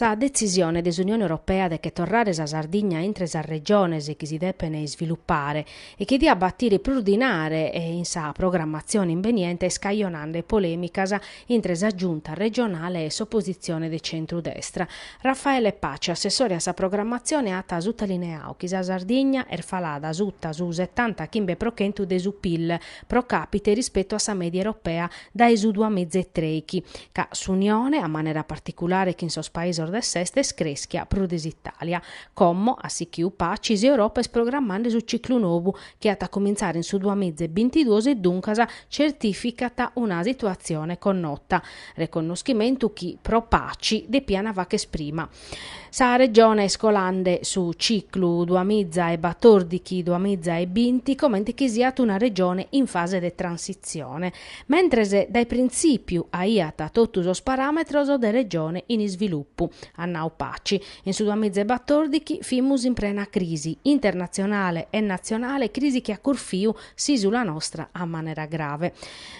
Sa detzisione de s'Unione Europea de che torrare sa Sardigna intre sas regiones chi si depene isvilupare e chi diat dèpere batire prus dinare in sa programmatzione imbeniente est cajonande polemicas intre sa Giunta regionale e s'opositzione de centru-destra. Raffaele Paci, assessore a sa programmatzione at sutalineau chi sa Sardigna est falada suta su setanta chimbe pro chentu de su Pil pro càpite rispetu a sa mèdia europea dae su duas miza e trei chi ca s'Unione, a manera particulare chin sos paisos de s'est, est crèschia prus de s'Itàlia. Como, a sichiu Paci, s'Europa est programmande su ciclu nou chi at a cumintzare in su duas miza e bintiduos e duncas certìficat una situatzione connota, reconnoschimentu chi pro Paci depian fagher prima. Sa Regione est colande su ciclu duas miza e batòrdighi-duas miza e binti comente chi siat una Regione in fase de transitzione, mentres dae printzìpiu aiat totu sos paràmetros de Regione in isvilupu, at nau Paci. In su duamizaebatòrdighi fimus in prena crisi, internatzionale e natzionale, crisi chi at curfiu s'ìsula nostra a manera grave.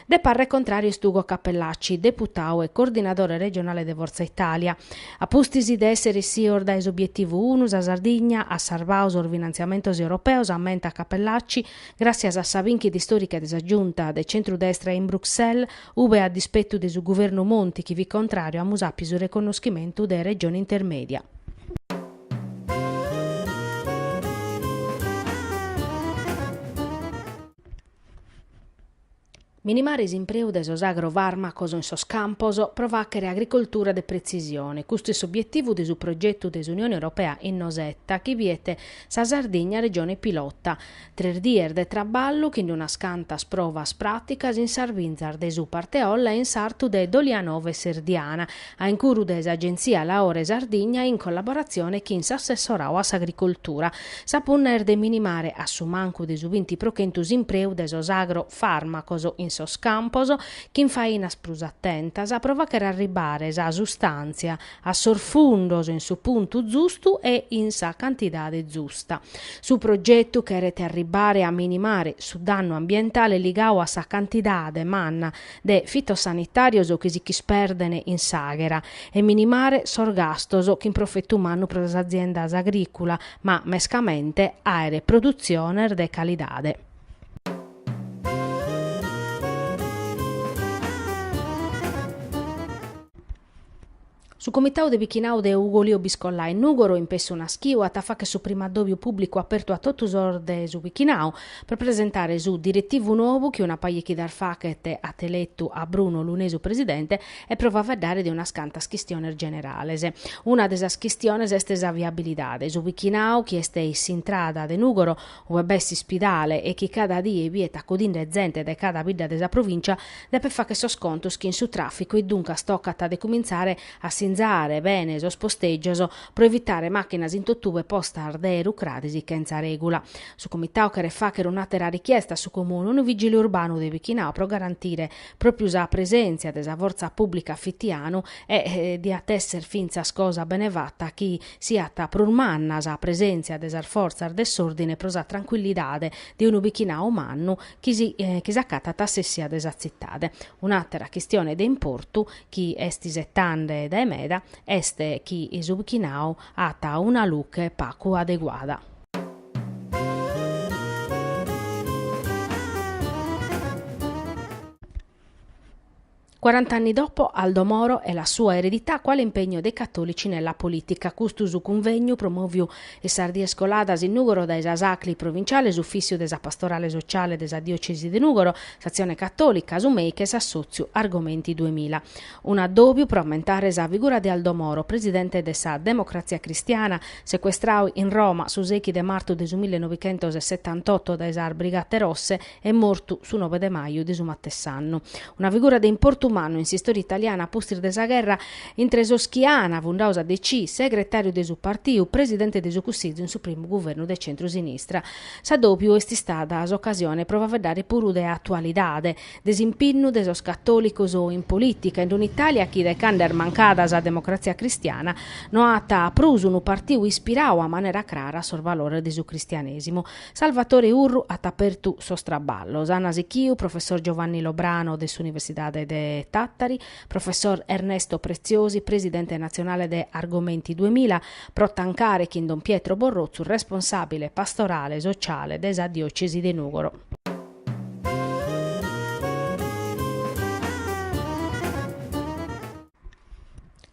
De parre contràriu est Ugo Cappellacci, deputau e coordinadore regionale de Fortza Italia. A pustis de èssere issios dae s'obietivu unu sa Sardigna at sarvau sos finantziamentos europeos, ammentat Cappellacci, gràssias a sa bìnchida istòrica de sa Giunta de centru-destra in Bruxelles, ube a dispettu de su guvernu Monti chi fit contrariu amus àpiu su reconnoschimentu de Regione Intermedia. Minimare s'impreu de sos agrofarmacos in sos campos pro faghere agricoltura de pretzisione, custu est s'obietivu de su progetu de s'Unione Europea Innosetta chi biet sa Sardigna Regione Pilota. Tres dies de traballu chin unas cantas provas pràticas in sas binzas de su Parteolla e in sartu de Dolianova e Serdiana, a incuru de s'Agentzia Laore Sardigna in collaboratzione chin s'Assessorau a s'Agricoltura. Sa punna est de minimare a su mancu de su binti pro chentu s'impreu de sos agro fàrmacos in sos campos chin fainas prus atentas pro fagher arribare sa sustàntzia a sos fundos in su puntu zustu e in sa cantidade zusta. Su progetu cheret arribbare a minimare su dannu ambientale ligau a sa cantidade manna de fitosanitàrios chi si ch'isperden in s'àghera e minimare sos gastos chin profetu mannu pro sas aziendas agrìculas ma mescamente àere produtziones de calidade. Su Comitau de Bichinau de Ugolìu Biscollai 'e Nùgoro, impessu naschiu, at a fagher su primu addòbiu pùblicu apertu a totu sos de su Bichinau, pro presentare su diretivu nou chi una paja 'e chidas faghet at eletu a Bruno Lunesu presidente e pro faeddare de unas cantas chistiones generales. Una de sas chistiones est sa viabilidade. Su Bichinau, chi est in s'intrada de Nùgoro, ue b'est s'ispidale e chi cada die biet acudinde zente de cada bidda de sa provìncia, depet fagher sos contos chin su tràficu e duncas tocat de cumintzare a sinzare bene sos postègios pro evitare màchinas in totue postas de rucradis chentza règula. Su Comitadu cheret fàghere un'àtera richiesta a su Comune, unu vigile urbanu de Bichinau pro garantire pròpiu sa presèntzia de sa fortza pùblica fitianu e diat èssere fintzas cosa bene fata chi siat prus manna sa presèntzia de sas fortzas de s'òrdine pro sa trancuillidade de unu bichinadu mannu chi s'acatat a s'essia de sa tzitade. Un'àtera chistione de importu chi est isetande dae meda est chi su bichinadu at una luche pagu adeguada. Cuarant'anni dopo, Aldo Moro e la sua eredità quale impegno dei cattolici nella politica. Custu su cunvegnu promoviu in sas dies coladas in Nùgoro dae sas Acli provinciale, s'ufficiu de sa pastorale sociale de sa diocesi de Nùgoro, s'Azione Cattolica, su MEIC e s'assotziu Argomenti duemila. Un addòbiu pro ammentare sa figura de Aldo Moro, presidente de sa Democrazia Cristiana, secuestradu in Roma su seghi de martu de su millenovechentos e setantotto dae sas Brigate Rosse, e mortu su nobe de maju de su matessi annu. Una figura de importu mannu in s'istòria italiana a pustis de sa gherra, intre sos chi an fundau sa DC, segretàriu de su partiu, presidente de su Cussizu in su primu guvernu de centru-sinistra. S'addòbiu est istada s'ocasione pro faeddare puru de atualidade, de s'impinnu de sos catòlicos in polìtica, in un'Itàlia chi dae cando est mancada sa democratzia cristiana no at prus unu partiu ispiradu a manera crara a sos valores de su cristianèsimu. Salvatore Urru at apertu sos traballos, Anna Sicchiu, Professor Giovanni Lobrano de s'Universidade de Tàtari, Professor Ernesto Preziosi, Presidente natzionale de Argomenti duemila, pro tancare chin Don Pietro Borrotzu, responsàbile pastorale sociale de sa diòcesi de Nùgoro.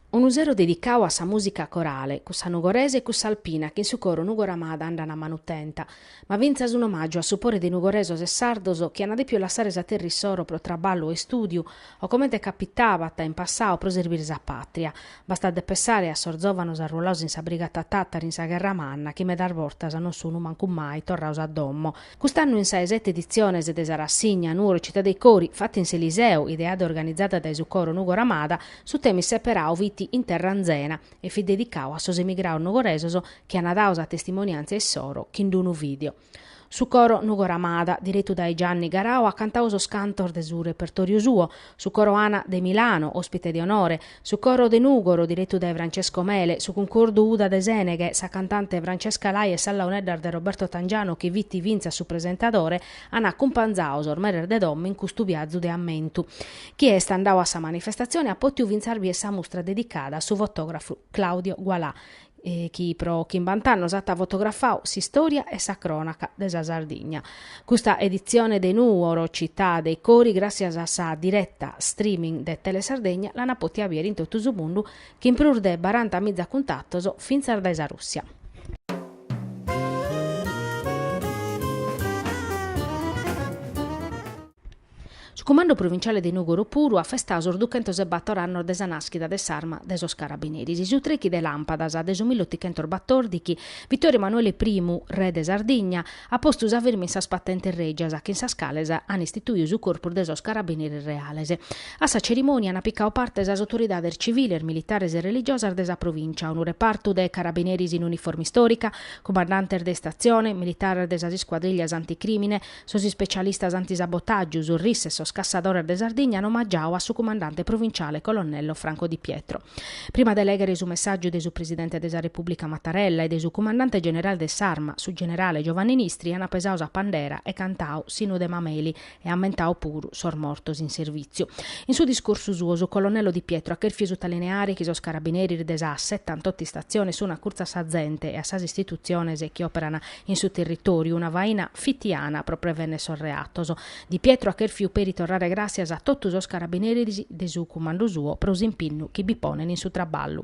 Unu sero dedicau a sa musica corale, cussa nugoresa e cussa alpina chi in su coro Nugoro Amada andan a manu tenta, ma fintzas un'omàgiu a su pore de nugoresos e sardos chi ana depiu lassare sa terra issoro pro traballu e istùdiu o comente capitabat in passau pro serbire sa pàtria. Bastat de pessare a sos zòvanos arruolados in sa Brigata Tàtari in sa Gherra Manna chi medas bortas non sunu mancu mai torrados a domo, Cust'annu in sa 'e sete editziones de sa rassigna Nuoro Città dei Cori, fatta in s'Eliseu, ideada e organizada dae su coro Nugoramada, su temi seperau fit In terra anzena e fit dedicau a sos emigraos nugoresos chi ana dau sa testimoniantzia issoro chin d'unu video. Su coro Nugoramada, direttu dae Gianni Garau, at cantau sos cantos de su repertoriu suo, su coro Ana de Milano, ospite de onore, su coro de Nugoro direttu dae Francesco Mele, su cuncordu Uda de Seneghe, sa cantante Francesca Lai e sas launeddas de Roberto Tangianu chi fit fintzas su presentadore an acumpanzau sos meres de domo in custu viazu de ammentu. Chie est andau a sa manifestatzione at potiu fintzas bier sa mustra dedicada a su fotografu Claudio Gualà chi pro chimbant'annos at fotografau s'istòria e sa crònaca de sa Sardigna. Custa editzione de Nuoro Città dei Cori, gràssias a sa direta streaming de Telesardegna, l'an pòtia bìere in totu su mundu chin prus de baranta miza cuntatos fintzas dae sa Rùssia. Su Cumandu Pruvinciale de Nùgoro puru at festau sos duchentos e bator annos de sa nàschida de s'arma de sos carabineris. Su trechi de làmpadas de su mill'otichentos batòrdichi, Vittorio Emanuele I, re de Sardigna, at postu sa firma in sas patentes règias chin sas cales an istituiu su corpus de sos carabineris reales. A sa cerimònia an picau parte sas autoridades civiles, militares e religiosas de sa provìncia, unu repartu de carabineris in uniforma istòrica, cumandantes de istatzione, militares de sas iscuadrìllias anticrìmine, Sos ispecialistas antisabotàgiu, su RIS e sos cassadores de Sardigna an omagiau a su cumandante provinciale colonnello Franco Di Pietro. Prima de lèghere su messàgiu de su presidente de sa Repùblica Mattarella e de su cumandante generale de s'Arma, su generale Giovanni Nistri an pesau sa pandera e cantau s'Innu de Mameli e ammentau puru sos mortos in servìtziu. In su discursu suo su colonnello Di Pietro at chèrfiu sutalineare chi sos carabineris de sas setantoto istatziones sun acurtzu a sa zente e a sas istitutziones chi òperan In su territoriu una faina fitiana pro prevennere sos reatos. Di Pietro at chèrfiu peri torrare gràssias a totu sos carabineris de su cumandu suo pro s'impinnu chi bi ponen in su traballu.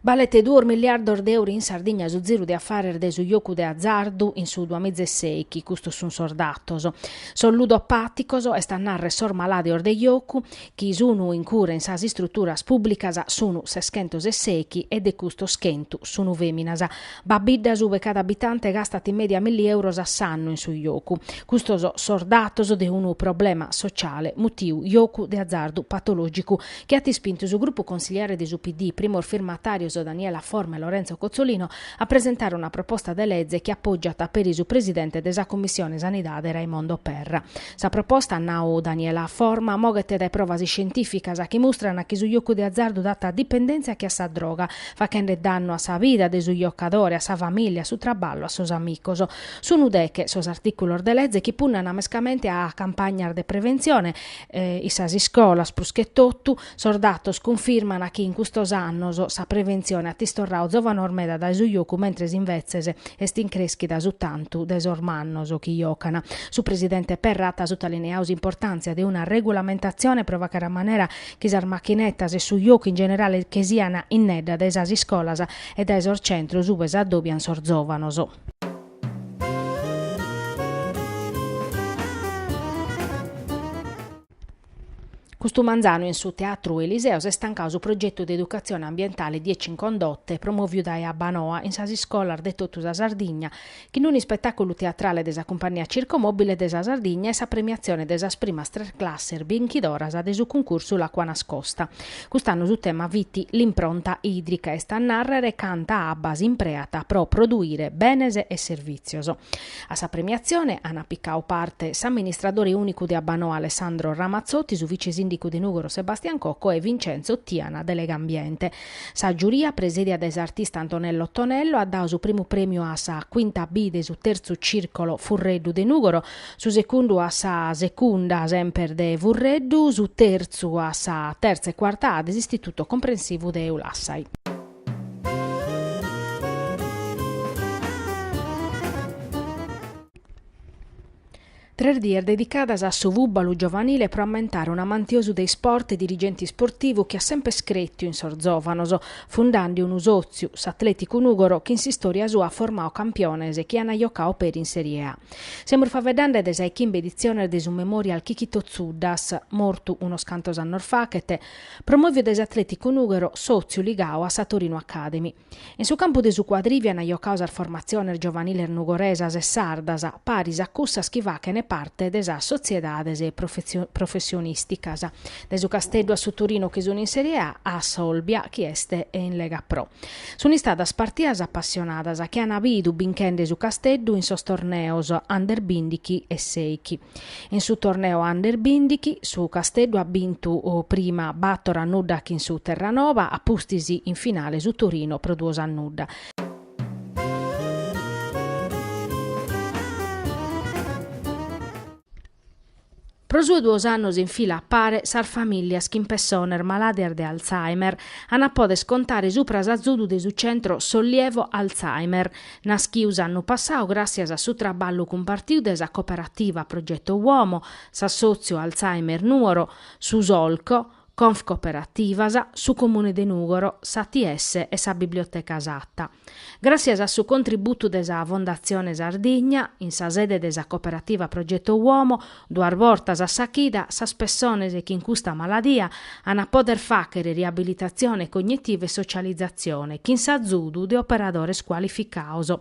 Balet duos milliardos de euro in Sardigna su ziru de afares de su jocu de azardu in su duamiza e sèichi, custos sun sos datos. Sos ludopàticos, est a narrer sos malàdios de jocu, chi sunu in cura in sas istruturas pùbblicas sunu seschentos e sèichi e de custos chentu sunu fèminas. B'at biddas ube cada abitante gastat in mèdia milli euros a s'annu in su jocu. Custos sos datos de unu problema sociale mutiu jocu de azardu patològicu chi at ispintu su grupu consiliare de su PD, primos firmatàrios Daniela Forma e Lorenzo Cozzolino, a presentare una proposta de leze chi apògiat peri su presidente de sa Commissione Sanidade Raimondo Perra. Sa proposta, at nau Daniela Forma, moghet dae provas iscientìficas chi mustran chi su jocu de azardu dat dipendèntzia che a sa droga, faghende dannu a sa vida de su jocadore, a sa famìllia, a su traballu, a sos amicos. Sun deghe sos artìculos de lege chi punnana mescamente a campagnas de preventzione, in sas iscolas prus che totu, Sos datos cunfirmana chi in custos annos sa preventzione at istorradu zovanos meda dae su jocu mentres invetzes est in crèschida su tantu de sos mannos chi jocana. Su presidente Perra at sutalineadu s'importàntzia de una regulamentatzione pro fàcher a manera chi sas machinetas e su jocu in generale che siana innedda dae sas iscolas e dae sos centros ue s'addòbian sos zovanos. Custu manzanu in su Teatru Eliseu s'est tancau su progetu de educatzione ambientale Dieci in Condotte promoviu dae Abbanoa in sas iscolas de totu sa Sardigna chin unu ispetàculu teatrale de sa Cumpagnia Circo Mobile de sa Sardigna e sa premiatzione de sas primas tres classes binchidoras de su cuncursu L'acqua nascosta. Cust'annu su tema fit l'impronta ìdrica, est a nàrrere canta abba s'impreat pro produire benes e servìtzios. A sa premiatzione ana picadu parte s'amministradore ùnicu de Abbanoa Alessandro Ramazzotti, su vice-sìndicu de Nùgoro Sebastian Cocco e Vincenzo Tiana de Legambiente. Sa giuria, presèdia dae s'artista Antonello Ottonello, at dadu su primu prèmiu a sa Quinta B de su tertzu cìrcolo Furreddu de Nùgoro, su segundu a sa Secunda semper de Furreddu, su tertzu a sa tertza e cuarta A de s'Istituto Comprensivu de Ulassai. Tres dies dedicadas a su fùbalu giovanile pro ammentare un'amantiosu de isport e dirigente isportivu chi at semper cretiu in sos zòvanos, fundande unu sòtziu, s'Atleticu Nùgoro, chi in s'istòria sua at formadu campiones chi ant jocadu peri in Serie A. Semus faeddende de sa 'e chimbe editziones de su Memorial Chichito Tzuddas, mortu unos cantos annos faghet, Promòviu dae s'Atlèticu Nùgoro sòtziu ligadu a sa Torino Academy. In su campu de su cuadrìviu ant giocadu sas formatziones giovaniles nugoresas e sardas, paris a cussas chi faghent parte de sas sotziedades professionìsticas, dae su Casteddu a su Torino chi sunt in Serie A a s'Olbia chi est in Lega Pro. Sunt istadas partidas apassionadas chi an bidu binchende su Casteddu in sos torneos Under bindighi e seichi. In su torneo Under bindighi, su Casteddu at bintu prima bator a nudda chin su Terranova, a pustis in finale su Torino pro duos a nudda. Pro su 'e duos annos in fila a pare, sas famìllias chin pessones malàdias de Alzheimer an a poder contare subra s'azudu de su centro Sollievo Alzheimer. Naschiu s'annu passau gràssias a su traballu cumpartiu de sa Coperativa Progetto Uomo, s'Assòtziu Alzheimer Nuoro, su Solco, Confcooperativas, su Comune de Nùgoro, s'ATS e sa Biblioteca Satta. Gràssias a su contributu de sa Fondatzione Sardigna, in sa sede de sa Coperativa Progetto Uomo, Duas bortas a sa chida, sas pessones chin custa maladia an a poder fàghere riabilitatzione cognitiva e socializatzione chin s'azudu de operadores cualificados.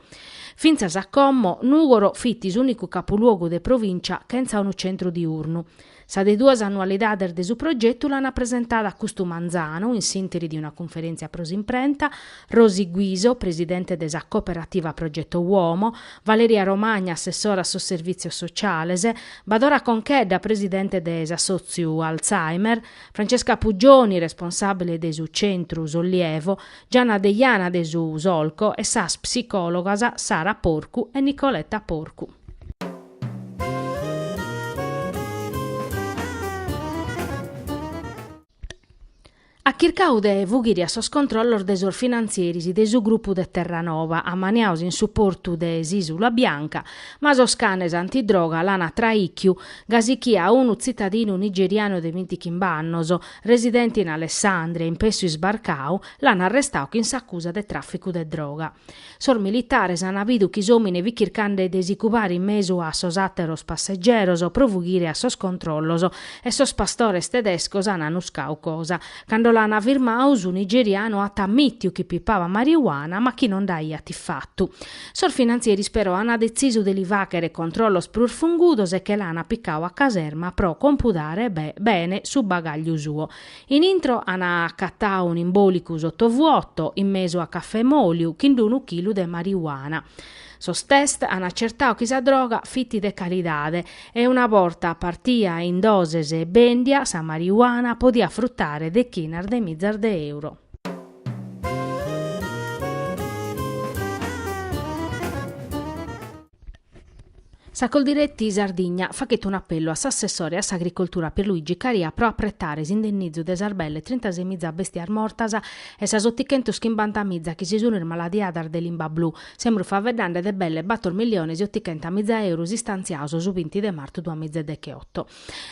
Fintzas a como, Nùgoro fit s'ùnicu capuluogu de provìncia chentza unu centru diurnu. Sa de duas annualidades de su progetu l'an presentada custu manzanu in s'ìnteri de una cunferèntzia pro s'imprenta, Rosi Guiso, presidente de sa Cooperativa Progetto Uomo, Valeria Romagna, assessora a sos Servìtzios Sociales, Badora Conchedda, presidente de s'assòtziu Alzheimer, Francesca Puggioni, responsàbile de su Centru Sollievo, Gianna Deiana de su Solco e sas psicòlogas Sara Porcu e Nicoletta Porcu. At chircadu de fughiri a sos controllos de sos finantzieris de su grupu de Terranova, ammaniados in su portu de s'Isula Bianca, ma sos canes antidroga l'an traìchiu, gasi chi a unu tzitadinu nigerianu de bintichimba annos, residente in Alessandria, impessu isbarcadu, l'an arrestadu chin s'acusa de tràficu de droga. Sos militares an bidu chi s'òmine fit chircande de si cubare in mesu a sos àteros passegeros pro fughire a sos controllos e sos pastores tedescos an annuscadu cosa. Cando l'an firmadu, su nigerianu at ammìtiu chi pipaba mariuana ma chi non nd'aiat in fatu. Sos finantzieris però an detzisu de li fàghere controllos prus fungudos e che l'an picadu a caserma pro compudare bene su bagàgliu suo. In intro an acatau un imbolicu sottovuoto, in mesu a cafè moliu, chin unu chilu de mariuana. Sos test an atzertau chi sa droga fiti de calidade e una borta partia in doses e bendia, sa mariuana podia frutare dechinas de mizas de euro. Sa Coldiretti Sardigna faghet un'apellu a s'assessore a s'agricoltura Pierluigi Caria pro apretare s'indennìtziu de sas belle trintasei miza bèstias mortas e sas otichentus chimbanta miza chi si sunt ismaladiadas de limba blu, semprus faeddende de belle bator milliones e otichenta miza eurus istantziados su binti de martu duamiza e decheoto.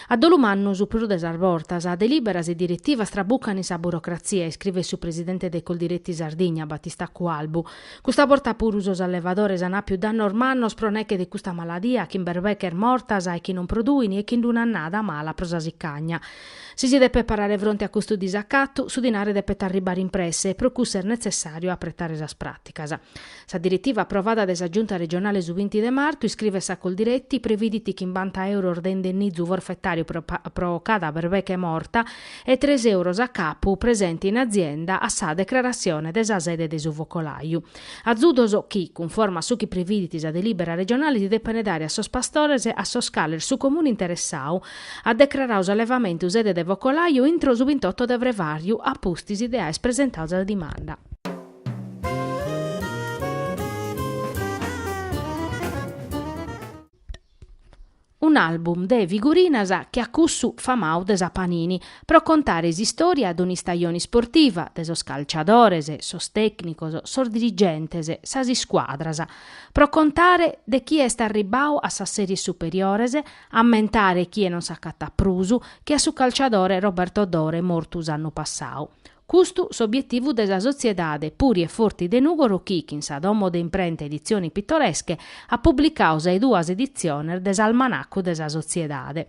A dolu mannu su prus de sas bortas, delìberas e diretivas trabucan in sa burocratzia, iscrivet su presidente de Coldiretti Sardigna, Battista Cualbu. Custa borta puru sos allevadores an àpiu dannos mannos pro nèche de custa maladia, chin berbeches mortas e chi non produin e chin un'annada mala pro sa sicagna. Si si depet parare fronte a custu disacatu, su dinare depet arribbare in presse e pro cuss'est netzessàriu apretare sas pràticas. Sa diretiva aprovada dae sa Giunta regionale su binti de martu, iscrivet sa Coldiretti, previdit chimbanta euros de indennizu forfetàriu pro pro cada berbeche morta e tres euros a capu presente in azienda a sa decrarassione de sa sede de su focolàiu. Azudos chi, cunforma a su chi previdit sa delìbera regionale si depent dare a sos pastores a sos cales su Comune interessadu at decraradu s'allevamentu sede de focolàiu intro su bintotto de frevàriu a pustis de aer presentadu sa dimanda. Un'album de figurinas che a cussu famau de sa Panini, pro contare s'istória de un'istajone isportiva, de sos calciadores, sos tècnicos, sos dirigentes, sas iscuadras. Pro contare de chie est arribbau a sas series superiores, ammentare chie non s'acatat prus che a su calciadore Roberto Dore mortu s'annu passau. Custu s'obietivu de sa sotziedade Puri e Forti de Nùgoro chi, chin sa domo de imprenta Edizioni Pittoresche, at publicadu sas duas editziones de s'almanacu de sa sotziedade.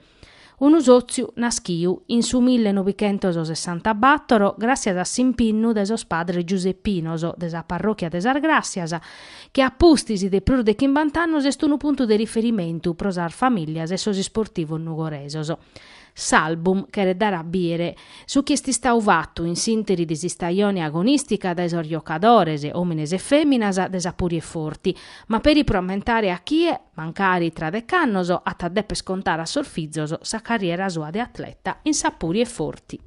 Unu sòtziu naschiu in su mille novichentos sessantabattoro gràssias a s'impinnu de sos padres giuseppinos de sa parròchia de Sas Gràssias, chi a pustis de prus de chimbant'annos est unu puntu de riferimentu pro sas famìlias e sos isportivos nugoresos. S'album cheret dare a bìdere su chi est istadu fatu in s'ìnteri de s'istajone agonìstica dae sos giocadores, òmines e fèminas, de sa Puri e Forti, ma peri pro ammentare a chie, mancari tra dec'annos, at a dèpere contare a sos fizos sa carriera sua de atleta in sa Puri e Forti.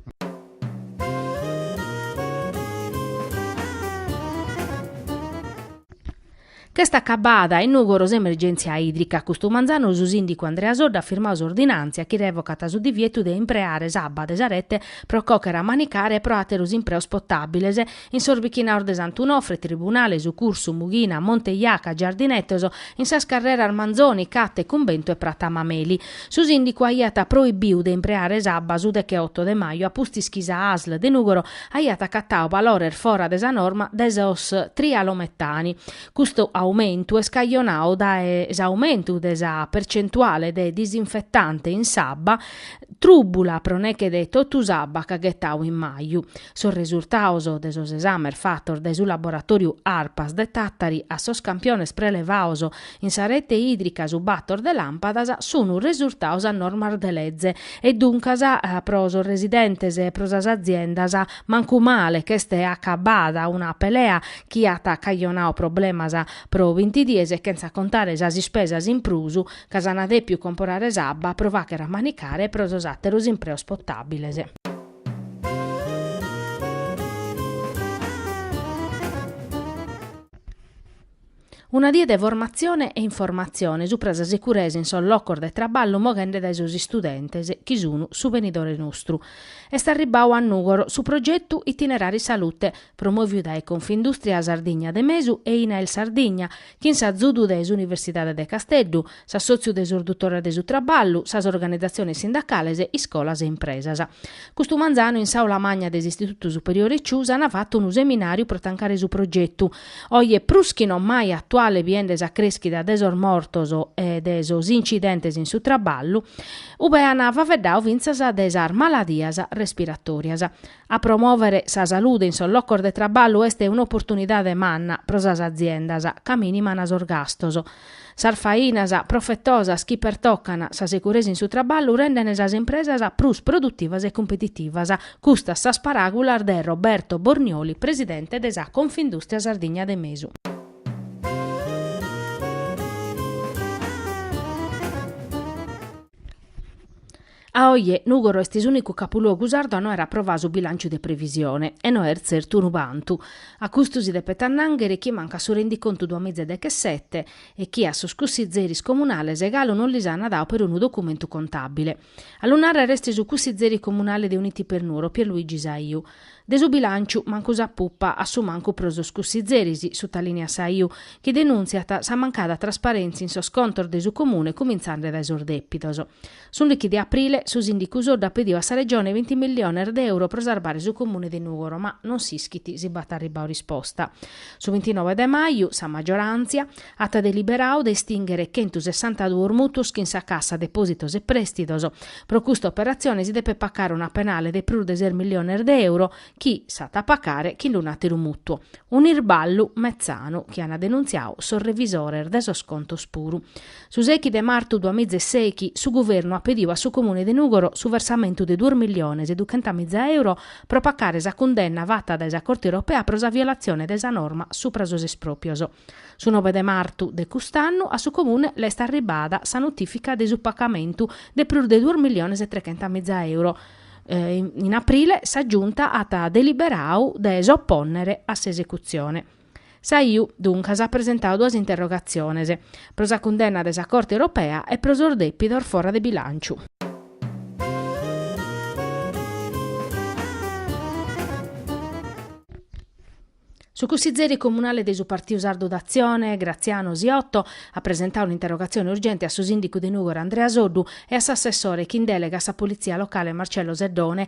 Ch'est acabada in Nùgoro s'emergèntzia ìdrica, custu manzanu su sìndicu Andrea Soddu at firmadu s'ordinàntzia chi revocat su divietu de impreare s'abba de sa rete pro còchere a manicare e pro àteros impreos potàbiles in sos bichinaos de Sant'Unofre, Tribunale, Su Cursu, Mughina, Monte Jaca, Giardinetos, in sas carreras Manzoni, Catte, Cumbentu e Prata Mameli. Su sìndicu aiat proibiu de impreare s'abba su decheoto de maju a pustis chi sa Asl de Nùgoro aiat acatau balores fora de sa norma de sos trialometani. Custu aumentu est cajonau dae s'aumentu de sa percentuale de disinfetante in s'abba trùbula pro neche de totu s'abba ch'at ghetau in maju. Sos resurtaos de sos esames fatos dae su laboratòriu Arpas de Tàtari a sos campiones prelevaos In sa rete ìdrica su bator de làmpadas sunt resurtaos a normas de leze e duncas pro sos residentes e pro sas aziendas mancu male ch'est acabada una pelea chi at cajonau problemas pro binti dies e chentza contare sas ispesas in prus ca s'an dèpiu comporare s'abba pro fàchere a manicare pro sos àteros impreos potàbiles. Una die de formatzione e informatzione supra sa securesa in sos locos de traballu moghende dae sos istudentes chi sun su benidore nostru. Est arribbau a Nùgoro su progetu Itinerari Salute, promòviu dae Confindustria Sardigna de Mesu e Inail Sardigna, chin s'azudu de s'Universidade de Casteddu, s'assòtziu de sos dutores de su traballu, sas organizatziones sindacales, iscolas e impresas. Custu manzanu in s'aula magna de s'Istitutu Superiore Ciusa an fatu unu seminàriu pro tancare su progetu, oje prus chi no mai atuale biende sa crèschida de sos mortos e de sos incidentes in su traballu, ube an faveddau fintzas de sas maladias respiratòrias. A promòvere sa salude in sos locos de traballu est un'oportunidade manna pro sas aziendas, ca mìniman sos gastos, Sas fainas profetosas chi pertocan sa securesa in su traballu rendent sas impresas prus produtivas e competitivas, custas sas paràgulas de Roberto Bornioli, presidente de sa Confindustria Sardigna de Mesu. A oje, Nùgoro est s'ùnicu capuluogu sardu a no aer aprovau su bilànciu de previsione, e no est tzertu unu bantu. A custu si depet annànghere chi mancat su rendicontu duamiza e dechesete e chi a sos cussizeris comunales galu non lis ana dau perunu documentu contàbile. A lu nàrrere est su cussizeri comunale de Uniti per Nuoro, Pierluigi Saiu. De su bilànciu, mancu sa pupa, a su mancu pro sos cussizeris, sutalìniat Saiu, chi denùntziat sa mancada trasparèntzia in sos contos de su Comune cumintzende dae sos dèpidos. S'ùndichi de aprile, su sìndicu Soddu at pediu a sa Regione binti milliones de euro pro sarbare su Comune de Nùgoro, ma non s'ischit si b'at arribbau risposta. Su bintinove de maju, sa maggioràntzia at deliberau de istìnghere chentu sessantaduos mutuos chin sa Cassa Depòsitos e Prèstidos. Pro custa operatzione si depet pacare una penale de prus de ses milliones de euro, chi s'at a pacare chin un'àteru mutuo. Un'irballu metzanu chi ant denuntziau sos revisores de sos contos puru. Su sèichi de martu duamiza e sèichi, su Guvernu at pediu a su Comune de Nùgoro su versamentu de duos milliones e duchentamìza euro pro pacare sa cundenna fata dae sa Corte Europea pro sa violatzione de sa norma supra sos espròpios. Su nobe de martu de cust'annu a su Comune l'est arribada sa notìfica de su pacamentu de prus de duos milliones e trechentamìza euro. In aprile sa Giunta at deliberau de s'opònnere a s'esecutzione. Saiu, duncas, at presentadu duas interrogatziones, pro sa cundenna de sa Corte Europea e pro sos dèpidos fora de bilànciu. Su cussizeri comunale de su Partiu Sardu d'Atzione, Graziano Siotto, at presentadu un'interrogatzione urgente a su sìndicu de Nùgoro Andrea Soddu e a s'assessore chin dèlega a sa Politzia locale Marcello Seddone,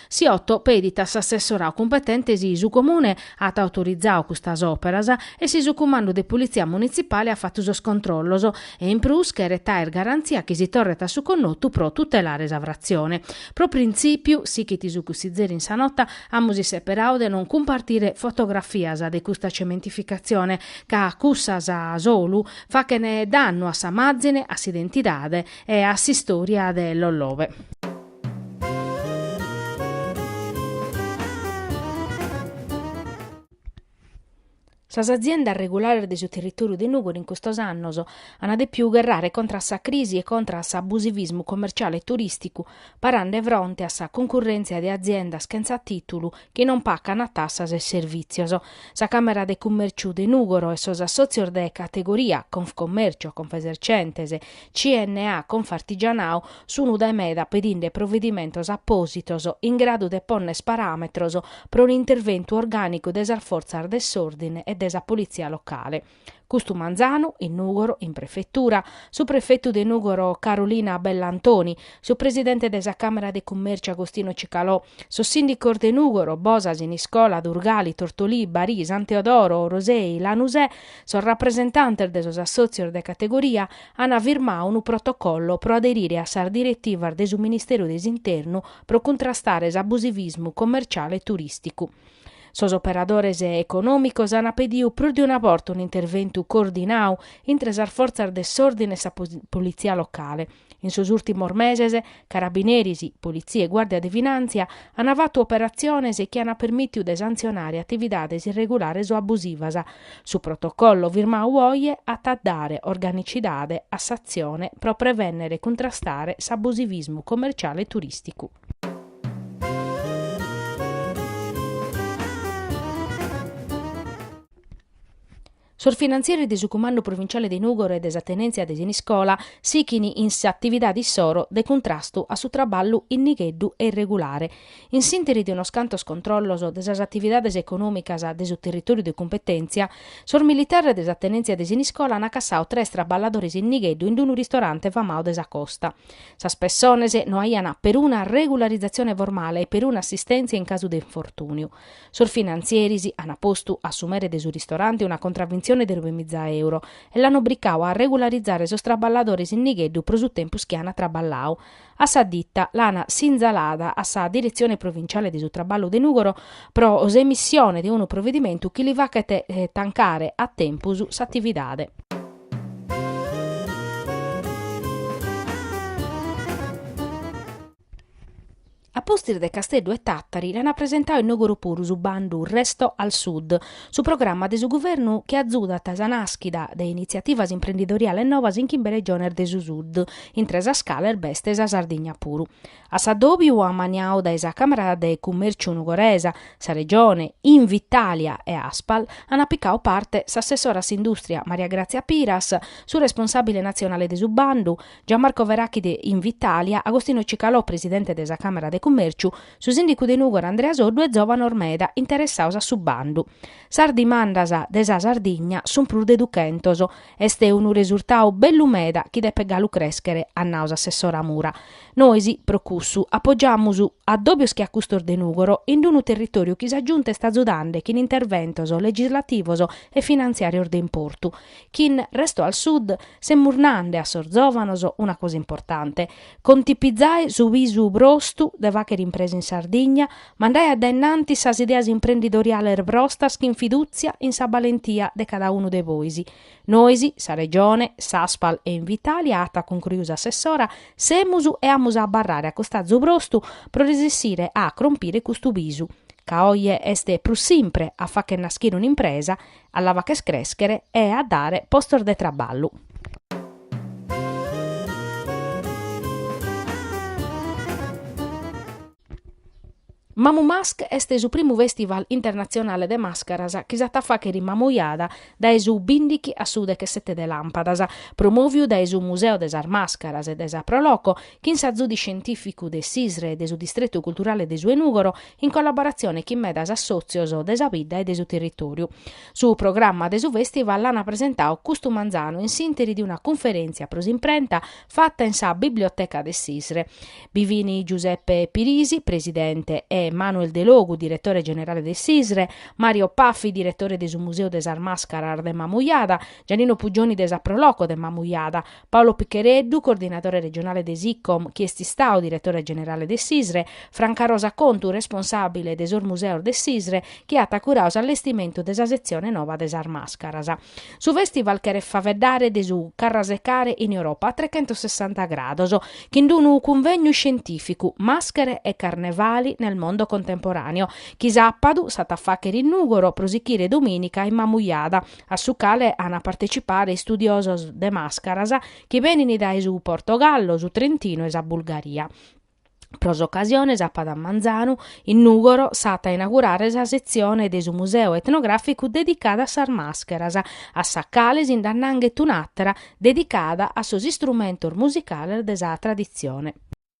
Siotto pedit a s'assessorau cumpetente si su Comune at autorizau custas òperas e si su Cumandu de Pulitzia Munitzipale at fatu sos controllos e in prus cheret àer garantzia chi si torret a su connotu pro tutelare sa fratzione. Pro printzìpiu, sighit su cussizeri in sa nota, amus isseperau de non cumpartire fotografias de custa cementificatzione ca cussas solu fachent dannu a sa màzine, a s'identidade e a s'istòria de Lollove. Sas aziendas regulares de su territòriu de Nùgori in custos annos ant dèpidu gherrare contra a sa crisi e contra a s'abusivismu commerciale e turìsticu, parande fronte a sa cuncurrèntzia de aziendas chentza tìtulu chi non pacan tassas e servìtzios. Sa Càmera de Cummerciu de Nùgoro e sos assòtzios de categoria, Confcommercio, Confesercentes, CNA, Confartigianau, sunu dae meda pedinde provedimentos apòsitos in gradu de ponner paràmetros pro un'interventu orgànicu de sas fortzas de s'òrdine e de sa politzia locale. Custu manzanu, in Nùgoro, in prefetura, su prefetu de Nùgoro Carolina Bellantoni, su presidente de sa Càmera de Cummèrciu Agostino Cicalò, sos sìndicos de Nùgoro, Bosa, Siniscola, Durgali, Tortolì, Barì, San Teodoro, Orosei, Lanusè, sos rapresentantes de sos assòtzios de categoria, ant firmadu unu protocollo pro aderire a sas diretivas de su Ministeru de s'Internu pro cuntrastare s'abusivismu commerciale e turìsticu. Sos operadores econòmicos ant pediu prus de una borta un'interventu coordinadu intre sas fortzas de s'òrdine e sa politzia locale. In sos ùrtimos meses, carabineris, politzia e guàrdia de finàntzia ant fatu operatziones chi ant permìtiu de santzionare atividades irregulares o abusivas. Su protocollu firmadu oje at a dare organicidade a s'atzione pro prevènnere e cuntrastare s'abusivismu comerciale e turìsticu. Sos finantzieri de su Cumandu Provinciale de Nùgoro e de sa Tenèntzia de Siniscola sighin in s'atividade issoro de cuntrastu a su traballu in nigheddu e irregulare. In s'ìnteri de unos cantos controllos de sas atividades econòmicas de su territòriu de cumpetèntzia, sos militares de sa Tenèntzia de Siniscola ant cassadu tres traballadores in nigheddu in unu ristorante famadu de sa costa. Sas pessones no aiant peruna regularizatzione formale e peruna assistèntzia in casu de infortùniu. Sos finantzieris ant postu a su mere de su ristorante una contravintzione de nove miza euro e l'ant obricadu a regularizare sos traballadores in nigheddu pro su tempus chi ant traballadu. A sa ditta l'ant sinzalada a sa Diretzione Provinciale de su Traballu de Nùgoro pro s'emissione de unu provedimentu chi li faghet tancare a tempus s'atividade. A pustis de Casteddu e Tàtari l'an apresentadu in Nùgoro puru su bandu Resto al Sud, su programma de su guvernu chi azudat sa nàschida de initziativas imprendidoriales novas in chimbe regiones de su Sud, intre sas cales b'est sa Sardigna puru. A s'addòbiu amaniadu dae sa Càmera de Cummèrciu nugoresa, sa Regione, Invitalia e Aspal an picadu parte s'assessora a s'indùstria Maria Gràtzia Piras, su responsàbile natzionale de su bandu, Gianmarco Verachi de Invitalia, Agostino Cicalò presidente de sa Càmera de Cummèrciu, su sìndicu de Nùgoro Andrea Soddu e zòvanos meda interessados a su bandu. Sas dimandas de sa Sardigna sunt prus de duchentos Est unu resurtau bellu meda chi depet galu crèschere, at nau s'assessora Mura. Nois, pro cussu, apogiamus adòbios che a custos de Nùgoro, in unu territòriu chi sa Giunta est azudende chin interventos legislativos e finantziàrios de importu. Chin Resto al Sud semus nande a sos zòvanos una cosa importante, Contivizae su visu brostu de fagher impresa in Sardigna, mandae a dae innantis sas ideas imprendidoriales brostas chin fidùtzia in sa balentia de cada unu de bois. Nois, sa Regione, s'Aspal e Invitalia, at cuncruiu s'assessora, semus e amus a abarrare a costazu brostu pro resessire a crompire custu visu, ca oje est prus simpre a fagher naschire un'impresa A la fàgher crèschere e a dare postos de traballu. Mamu Mask est su primu fèstival internatzionale de màscaras chi s'at a fàghere in Mamujada dae su bindighi a su dechesete de làmpadas, promòviu dae su Museu de sas Màscaras e dae sa Pro Loco, chin s'azudu scientìficu de s'ISRE e de su Distretu Culturale de su 'e Nùgoro, in collaboratzione chin medas assòtzios de sa bidda e de su territòriu. Su programma de su fèstival l'ana presentadu custu manzanu in s'ìnteri de una cunferèntzia pro s'imprenta fata in sa Biblioteca de s'ISRE. Bi fin Giuseppe Pirisi, presidente, e Manuel Delogu, diretore generale de s'ISRE, Mario Paffi, diretore de su Museu de sas Màscaras de Mamujada, Giannino Puggioni de sa Pro Loco de Mamujada, Paolo Picchereddu, coordinadore regionale de s'ICOM, chi est istadu diretore generale de s'ISRE, Franca Rosa Contu, responsàbile de sos museos de s'ISRE, chi at curadu s'allestimentu de sa setzione nova de sas màscaras. Su fèstival cheret faeddare de su carrasecare in Europa a trechentossessanta grados, chin unu cunvegnu iscientìficu, Maschere e carnevali nel mondo contemporaneo, chi sàpadu s'at a fàghere in Nùgoro pro sichire domìnica in Mamujada, a su cale an a partecipare istudiosos de màscaras chi benint dae su Portogallo, su Trentino e sa Bulgaria. Pro s'ocasione sàpadu a manzanu, in Nùgoro, s'at a inaugurare sa setzione de su Museu Etnogràficu dedicada a sas màscaras, a sa cale si nd'annanghet un'àtera dedicada a sos istrumentos musicales de sa traditzione.